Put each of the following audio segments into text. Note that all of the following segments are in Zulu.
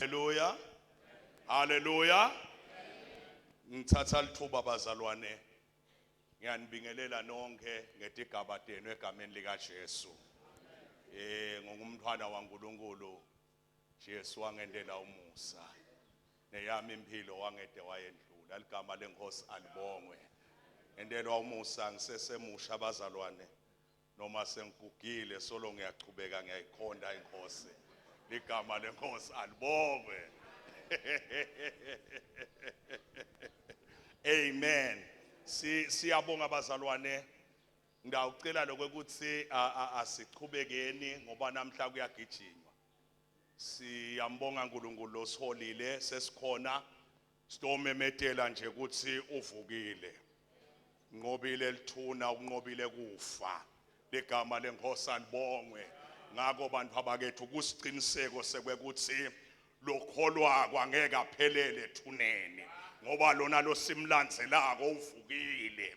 Haleluya. Haleluya. Ngithatha lithuba bazalwane. Ngiyanibingelela nonke ngetigaba tenu egameni lika Jesu. Eh ngongumntwana waNkulunkulu. Jesu wangendela umusa. Neyami impilo wangede wayendlula. Ligama lenkosi alibongwe. Ngendelwa umusa ngisesemusha bazalwane. Noma sengigugile solo ngiyaqhubeka ngiyayikhonda inkosi. Ligama lenkosi alibongwe. Amen. Si siyabonga bazalwane. Ngiyawucela lokho ukuthi asiqhubekeni ngoba namhla kuyagijinywa. Siyambonga uNkulunkulu osiholile sesikhona Sitomemetela nje ukuthi uvukile. Nqobile lithuna unqobile kufa. Ligama lenkosi alibongwe. Ngakho bantu abakethu kusiqiniseko sekwekuthi lokholwako angeke aphelele ethuneni ngoba lona losimlandzelako uvukile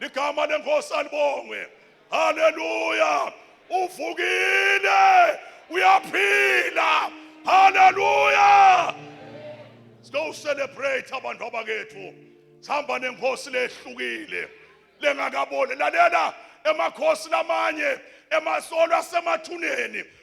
ligama lenkosi alibongwe haleluya uvukile uyaphila haleluya siyo celebrate abantu abakethu sihamba nenkosi lehlukile lengakaboni lalela emakhosi lamanye emasolo asemathuneni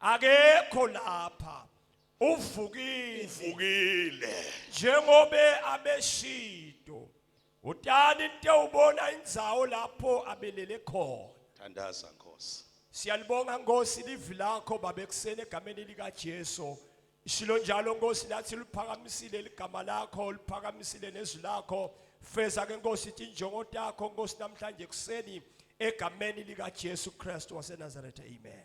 akekho lapha uvukile uvukile njengobe abeshido utani into ubona indzawo lapho abelele khona thandaza nkosi siyalibonga nkosi livi lakho babe kuseni egameni likaJesu ishilo njalo nkosi lathi liphakamisile ligama lakho liphakamisile nezwi lakho feza ke nkosi injongo takho nkosi namhlanje kuseni egameni likaJesu Kristu waseNazaretha amen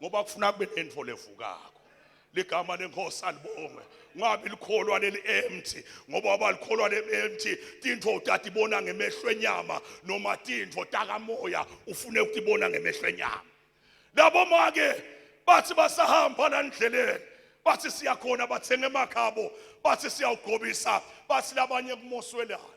ngoba kufuna kube nento levukako ligama lenkosi alibonge ngabe likholwa leli empty ngoba abalikholwa leli empty tinto utata ibona ngemehlo enyama noma tinto takamoya ufune ukutibona ngemehlo enyama labo make bathi basahamba la ndleleni bathi siya khona bathenga emakhabo bathi siyawugobisa bathi labanye kumoswelana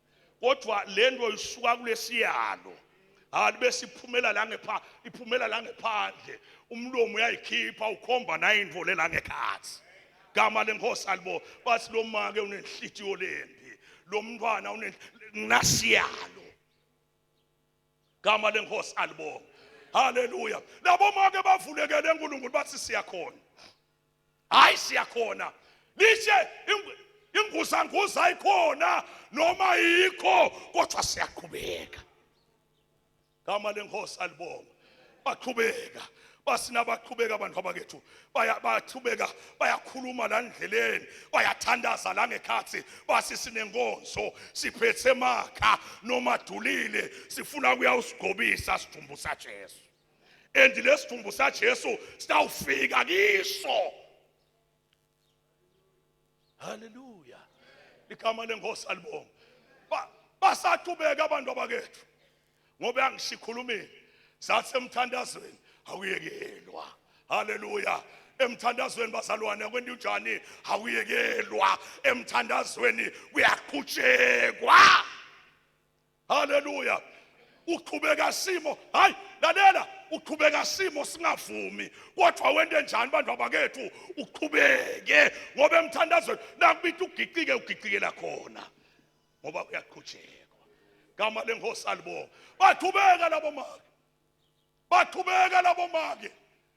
kodwa lento isuka kulesiyalo hayi bese iphumela la ngepha iphumela la ngephandle umlomo uyayikhipha ukhomba naye into lela ngekhathi gama lenkosi alibo bathi lo make unenhlitiyo lembi lo mntwana unenasiyalo gama lenkosi alibonga haleluya labo make bavulekele uNkulunkulu bathi siyakhona hayi siyakhona lishe inguzanguza ayikhona noma yikho kodwa siyaqhubeka gama lenkosi alibonga baqhubeka basina baqhubeka abantu abakethu bayaqhubeka bayakhuluma la ndleleni bayathandaza la ngekhathi basi sinenkonzo siphethe makha nomadulile sifuna kuya usigobisa sidumbu saJesu and lesidumbu saJesu sitawufika kiso haleluya igama lenkosi alibonga basaqhubeka abantu abakethu ngoba yangishikhulumile sathi emthandazweni awuyekelwa haleluya emthandazweni bazalwane akwenti unjani awuyekelwa emthandazweni kuyaqhutshekwa haleluya uqhubeka simo hayi lalela uqhubeka simo singavumi kodwa wente njani bantu abakethu uqhubeke ngoba emthandazweni nakubitha ugicike ugicikela khona ngoba uyaqhutshekwa gama lenkosi alibonga baqhubeka labo maka baqhubeka labo make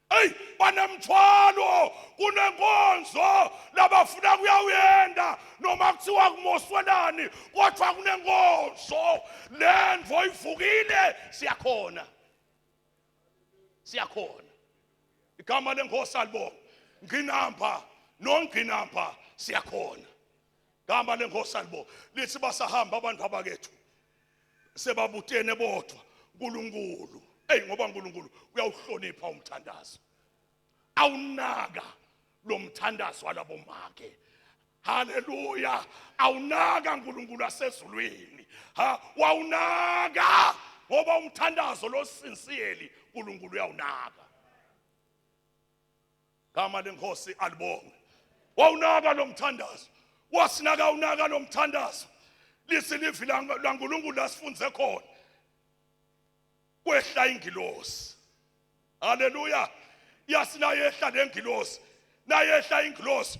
eyi banemthwalo kunenkonzo labafuna kuyawuyenda noma kuthiwa kumoswelani kodwa kunenkonzo le ndvo ivukile siyakhona siyakhona igama lenkosi alibonga nginamba nonginamba siyakhona igama lenkosi alibonga lithi basahamba abantu abakethu sebabutene bodwa uNkulunkulu hey ngoba uNkulunkulu uyawuhlonipha umthandazo awunaka lo mthandazo walabo make haleluya awunaka uNkulunkulu asezulwini ha wawunaka ngoba umthandazo losinsiyeli uNkulunkulu uyawunaka Gama lenkosi alibonge. Wawunaka lo mthandazo. Wasinaka unaka lo mthandazo. Lisi livi laNkulunkulu lasifunze khona. Kwehla ingilosi. Haleluya. Yasina yehla lengilosi. Nayehla ingilosi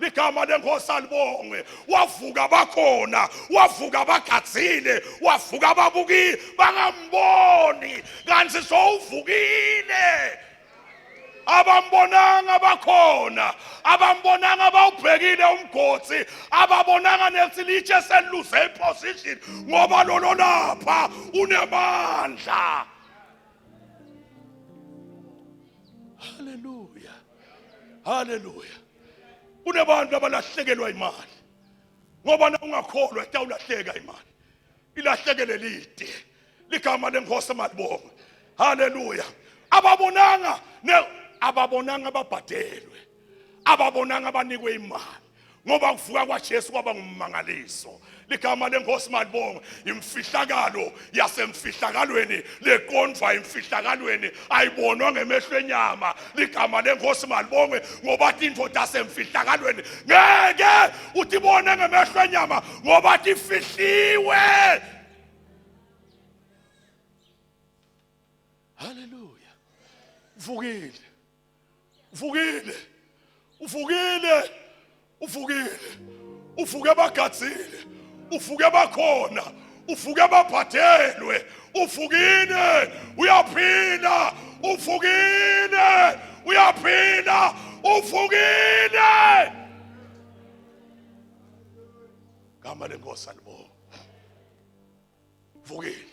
ligama lenkosi alibongwe wavuka bakhona wavuka bagadzile wavuka babuki bangamboni kanti sowuvukile abambonanga bakhona abambonanga bawubhekile umgotsi ababonanga nethi litshe seliluze iposition ngoba lolo lapha unemandla haleluya haleluya kunebantu abalahlekelwa imali ngoba na ungakholwa itawulahleka imali ilahlekele lide ligama lenkosi malibonga haleluya ababonanga ne ababonanga ababhadelwe ababonanga abanikwe imali ngoba ukuvuka kwaJesu kwaba ngummangaliso ligama lenkosi malibonga imfihlakalo yasemfihlakalweni leqondwa imfihlakalweni ayibonwa ngemehlo enyama ligama lenkosi malibonge ngoba indoda yasemfihlakalweni ngeke uthi ibone ngemehlo enyama ngoba ifihliwe haleluya vukile uvukile uvukile uvukile uvuke bagadzile uvuke bakhona uvuke babhadelwe uvukile uyaphila uvukile uyaphila uvukile gama lenkosi alibonga vukile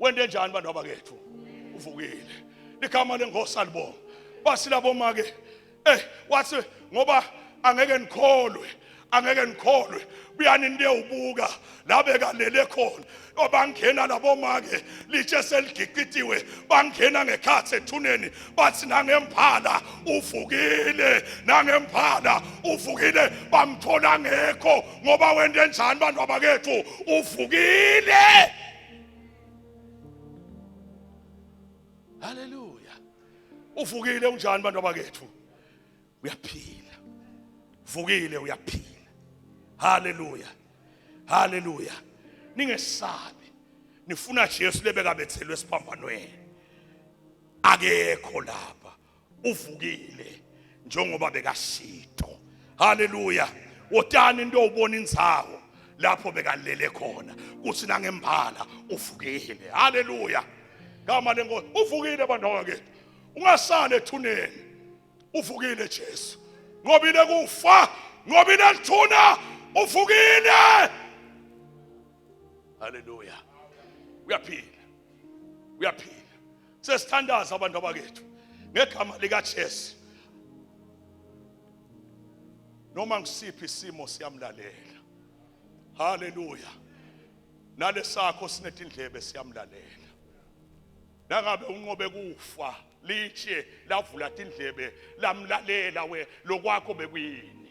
wende njani bantu abakethu uvukile ligama lengosi alibonga basi labo make eh wathi ngoba angeke nikholwe angeke nikholwe buyani niyewubuka la bekalele khona obangena labo make litshe seligiqitiwe bangena ngekhathi ethuneni bathi nangemphala uvukile nangemphala uvukile bamthola ngekho ngoba wente njani bantu abakethu uvukile haleluya uvukile unjani bantu abakethu uyaphila vukile uyaphila haleluya haleluya ningesabi nifuna Jesu lebekabethelwe esiphambanweni akekho lapha uvukile njengoba bekasito haleluya wotani into ubona indzawo lapho bekalele khona kuthi nangembala uvukile haleluya ngama lenkosi uvukile bantu wakethu ungasali ethuneni uvukile Jesu ngobile kufa ngobile lithuna uvukile haleluya uyaphila uyaphila sesithandaza abantu abakethu ngegama likaJesu noma ngisiphi isimo siyamlalela haleluya nalesakho sinetindlebe siyamlalela nangabe unqobe kufa litshe lavula tindlebe lamlalela we lokwakho bekuyini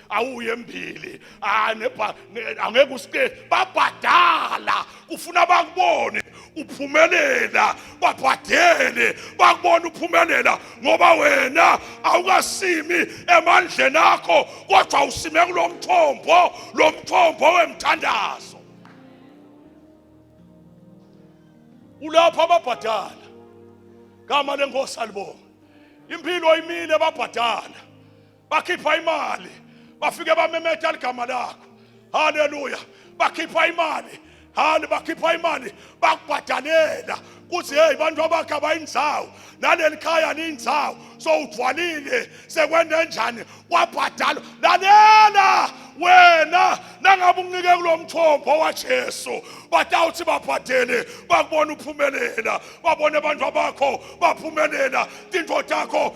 awuye embili ah, angeke usike babhadala ufuna bakubone uphumelela babhadele bakubona uphumelela ngoba wena awukasimi emandleni akho kodwa usime kulo mthombo lo mthombo wemthandazo ulapho ababhadala gama lenkosi alibonga impilo imile babhadala bakhipha imali bafike bamemeta ligama lakho haleluya bakhipha imali hale bakhipha imali bakubhadalela kuthi hey bantu abakhe abayinzawo naleli khaya liyinzawo so udwalile sekwende njani wabhadala lalela wena nangabe unike kulo mthombo waJesu batawuthi babhadele bakubona uphumelela babone abantu abakho baphumelela tinto takho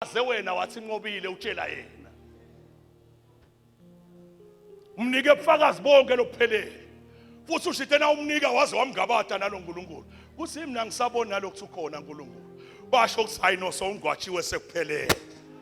aze wena wathi nqobile utshela yena umnike ubufakazi bonke lokuphelele futhi ushithe na umnika waze wamngabada nalo nkulunkulu kuthi yimi nangisaboni nalokhu ukhona nkulunkulu basho ukuthi hayi no sowungwatshiwe sekuphelele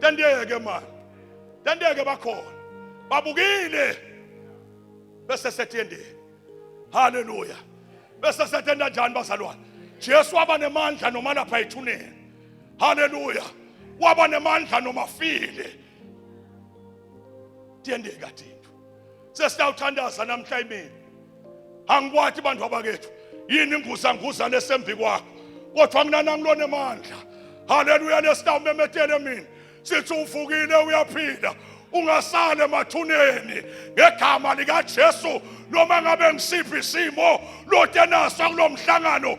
Tanteke mani. Tanteke bakhona. Babukile. Bese sethendeni. Haleluya. Bese sethenda njani bazalwane? Jesu waba nemandla noma lapha ethuneni. Haleluya. Waba nemandla noma file. Tiyendeka thina. sesiyawuthandaza namhla imini angikwathi bantu abakethu yini inguzanguzane esembi kwakho kodwa mina nangilona emandla haleluya lesitawumemetele mina sithi uvukile uyaphila ungasali emathuneni ngegama likaJesu noma ngabe ngisiphi isimo lotenaso kulomhlangano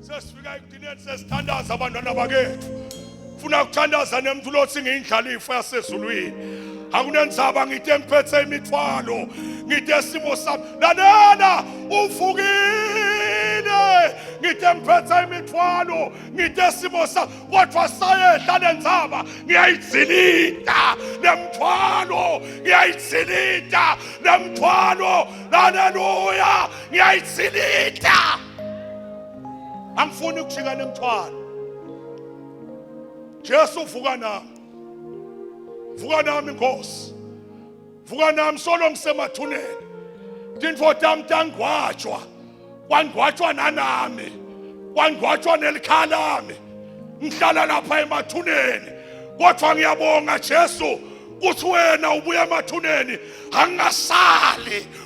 sesifika ekugcineni sesithandaza abantwana bakethu funa kuthandaza nemntu lothi ngiyindlalifa yasezulwini akunenzaba ngide ngiphethe imithwalo ngide simo sami lalela uvukile ngide ngiphethe imithwalo ngide simo sami kodwa sayehla lenzaba ngiyayidzinita nemthwalo ngiyayidzinita nemthwalo haleluya ngiyayidzinita angifuni ukujika nemthwalo Jesu vuka nami vuka nami Nkosi vuka nami solo ngisemathuneni tintfo tami tangwatshwa kwangwatshwa nanami kwangwatshwa nelikhaya lami ngihlala lapha emathuneni kodwa ngiyabonga Jesu kuthi wena ubuya emathuneni angasali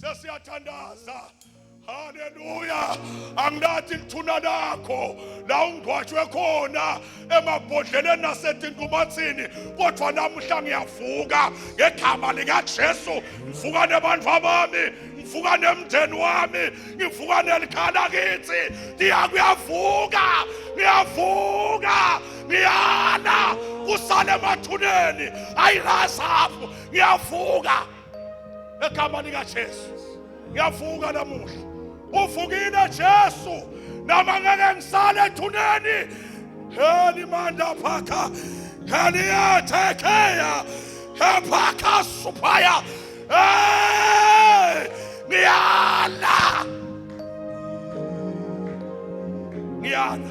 sesiyathandaza haleluya angilathi lithuna lakho la ungwashwe khona emabhodleleni nasetintumathini kodwa namuhla ngiyavuka ngegama likajesu ngivuka nebantu abami ngivuka nemndeni wami ngivuka nelikhala kithi ndiya kuyavuka ngiyavuka ngiyala kusale emathuneni ayilazi apho ngiyavuka Egama lika Jesu. Ngiyavuka namuhla. Uvukile Jesu. Nama ngeke ngisale ethuneni. Heli manda phaka. Heli athekeya. Hephaka supaya. Hey! Ngiyala. Ngiyala.